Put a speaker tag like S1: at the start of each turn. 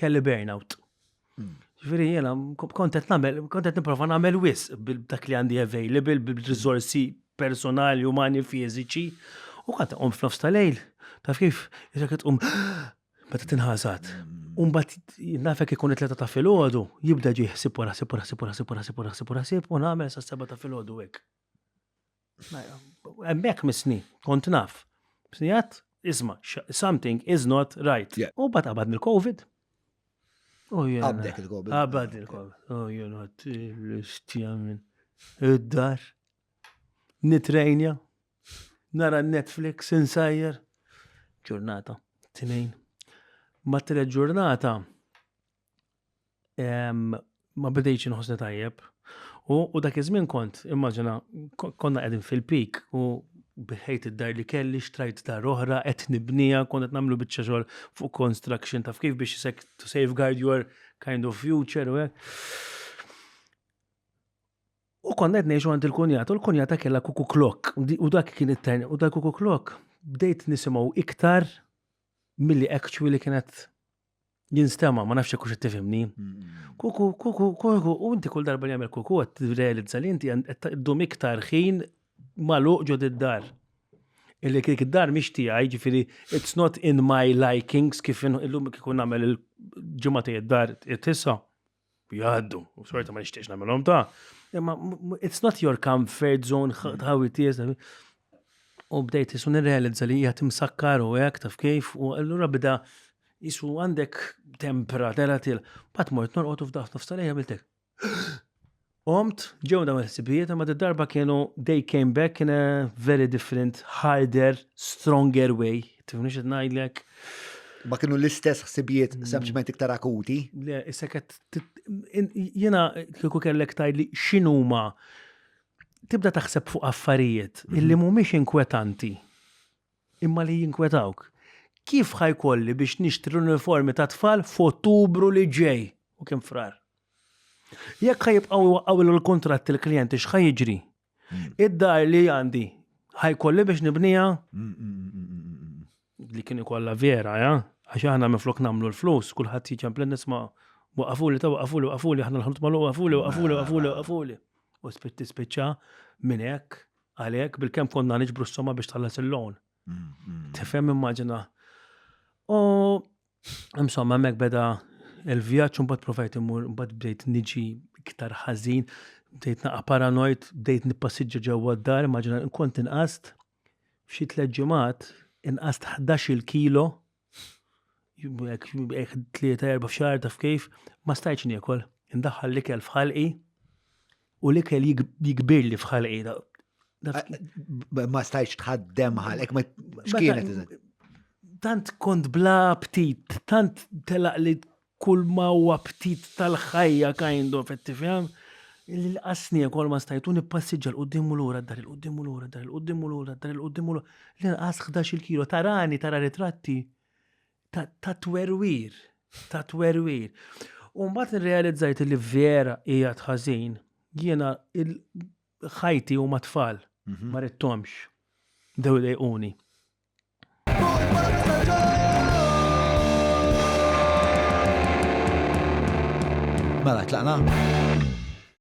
S1: kelli burnout. Hmm. Ġifieri jiena kont qed nagħmel, kont qed nipprova nagħmel wis dak li għandi available bil-riżorsi personali, umani, fiżiċi. U kont qom f'nofs tal-lejl, taf kif, jisek tqum meta tinħasat. Umbat nafek ikun it-tleta ta' filgħodu, jibda ġi ħsib wara ħsib wara ħsib wara ħsib wara ħsib wara ħsib u nagħmel sa' seba ta' filgħodu hekk. Hemmhekk misni, kont naf. Snijat, isma, something is not right. U bat qabad mill-Covid.
S2: Għabdek il-Covid. Qabad il-Covid.
S1: Oh, jena, t-istjamin. Id-dar. Nitrejnja. Nara Netflix, insajjer. Ġurnata, t-tnejn. Ma t-tret ġurnata, ma bidejx inħossni tajjeb. U dak iż-żmien kont, immaġina, konna qegħdin fil-pik u biħejt id-dar li kelli, xtrajt dar oħra, qed nibnija, kont qed nagħmlu biċċa xogħol fuq construction taf kif biex to safeguard your kind of future u U konna qed ngħixu għand il-kunjata, u l-kunjata kellha kuku klok, u dak kien it-tajn, u dak kuku klok bdejt nisimgħu iktar milli actually kienet jinstema, ma nafx jekk qed tifhimni. Kuku, kuku, kuku, u inti kull darba li jagħmel kuku qed tirrealizza li inti qed ddum iktar ħin magħluq ġod id-dar. Illi kik id-dar mhix tiegħi, ġifieri it's not in my likings kif illum kif nagħmel il-ġimgħa id-dar tissa. jgħaddu, u sorta ma nixtieqx nagħmilhom ta' imma it's not your comfort zone ħawi tiegħek. Mm. U bdejt isu nirrealizza li hija timsakkar u hekk taf kif u allura bda isu għandek tempra tera til. Bat mort norqotu f'daħt nofs tal-lejja biltek. Qomt, ġew dawn il-ħsibijiet, imma d-darba kienu they came back in a very different, harder, stronger way. Tifni xed najdlek? Ma kienu
S2: l-istess ħsibijiet mm. sempliċement iktar akuti. Le, issa kett,
S1: jena kiku kellek tajdli xinuma tibda taħseb fuq affarijiet mhm. illi mumiex inkwetanti imma li jinkwetawk. Kif ħajkolli biex nixtri l-uniformi ta' tfal f'Ottubru li ġej u kien frar? Jekk ħa jibqgħu jwaqqgħulilu l-kuntratt il-klijenti x'ħa jiġri? Id-dar li għandi ħa jkolli biex nibniha? Li kien ikollha vera, ja? Għax aħna minflok nagħmlu l-flus, kulħadd jiġi għamplin nisma' waqafuli ta' waqafuli waqafuli aħna l-ħanut magħluq waqafuli waqafuli waqafuli waqafuli. U spitti spiċċa minn hekk għalhekk bil-kemm konna niġbru s-soma biex tħallas il-loan. Tifhem immaġina. U Insomma, mek beda il-vjaġġ un bat provajt imur, un bat bdejt niġi iktar ħażin, bdejt naqa paranoid, bdejt nippassiġġa ġewwa d-dar, maġna nkont inqast f'xi tliet ġimgħat inqast 11-il kilo jekk tlieta erba' f'xahar taf kif, ma stajtx niekol. Indaħħal l-ikel f'ħalqi, U l-ikel jikbirli f'ħalqina.
S2: Ma stajx tħaddem ħalek, ma xkienet. Tant
S1: kont bla aptit, tant telaq li kull ma u aptit tal-ħajja kind of, tifhem? L-qasni kol ma stajtu nippassiġġa l-qoddim u l-ura, dar il-qoddim u l-ura, dar il-qoddim u l-ura, dar il-qoddim u l-ura. L-inqas 11 kilo, tarani, tara ritratti. ta' twerwir, ta' twerwir. U mbagħad nirrealizzajt li vera hija tħażin, jiena ħajti huma tfal, mhm. ma rittomx. Dew dejquni.
S2: Mela, tlaqna?